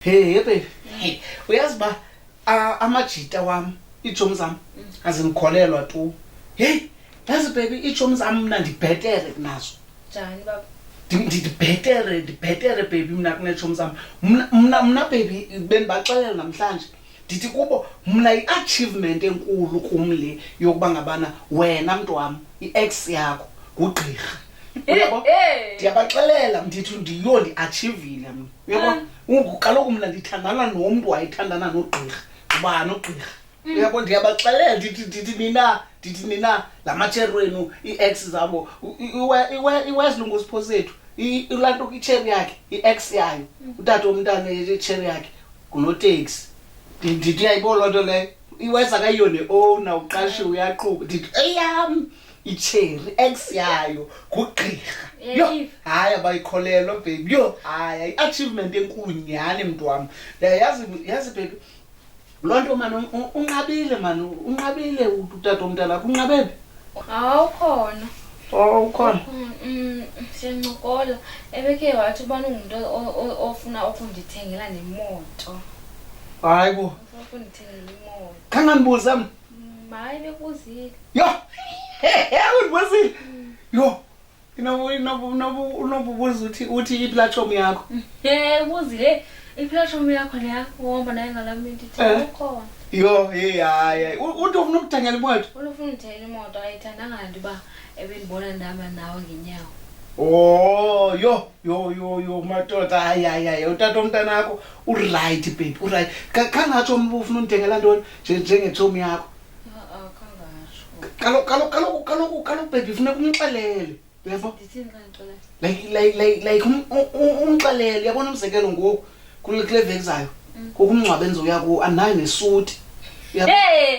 Hey, yebe. Hey, uyazi ba a- amajita wam, iitshomi zam azindikholelwa tu. Hey, yazi baby iitshomi zam mna ndibhetere kunazo. njani baba Ndi- ndi- Ndibhetere, ndibhetere baby mna kuneetshomi zam. Mna mna mna baby bendibaxelela namhlanje. Ndithi kubo mna i-achievement enkulu kum le yokuba ngabana wena mntu wam i-ex yakho ngugqirha. Uyabo? Eh, eh. Ndiyabaxelela ndithi ndiyo ndiachivile mna. uyabona ah. ngoku kaloku mna ndithandana nomntu wayethandana nogqirha ubani ugqirha mm. uyabona ndiyabaxelela ndithi ndithi nina ndithi nina la matsheri wenu ii-ex zabo iwesilungu sipho sethu laa nto itsheri yakhe i-ex yayo mm. utata omntana itsheri yakhe ngunoteksi ndithi uyayiboo loo nto leyo iwesa kayiyo ne-owner uqashiwe uyaqhuba ndithi eyam itsheri ex yayo ngugqirha Eh, yho if. hayi abayikholelwa bhebi yho hayi i-achievement enkulu nyhani mntu wam Ya- yazi yazi bhebi loo nto mani un- un- unqabile mani unqabile utata omntanakho unqabele awukhona o ukhona Mm, mm, siyancokola ebekhe wathi ubana ungumntu o- o- ofuna ukundithengela nemoto hayi bo ofuna ukundithengela imoto khangandibuza mna Maye bekuzile. Yo. Uyibuzile. Yo. Inobu inobu inobu unobubuza uthi uthi iplatform yakho. Eh ubuzile. Iplatform yakho leya uhamba naye ngalamindi thi eh. ukhona. Yo, hey hayi. Uthi ufuna ukuthengela imoto? Ufuna ukuthengela imoto ayithandanga nje uba ebendibona ndihamba nawe ngenyawo. Oh, yo. yho yho yho madoda hayi hayi hayi utata omntana wakho urayithi bhebi urayithi khangatsho umntu ufuna undithengela ntoni nje- njengetsomi yakho Uh-uh, kangatsho. kaloku kaloku kaloku kaloku kaloku bhebi funeka umxelele uyabo Ndithini xa ndixelela? like like like like um- u- u- umxelele uyabona umzekelo ngoku kule kule veki zayo ngoku umngcwabenzi uya kuwo andinayo nesuti Uyabo? Hey,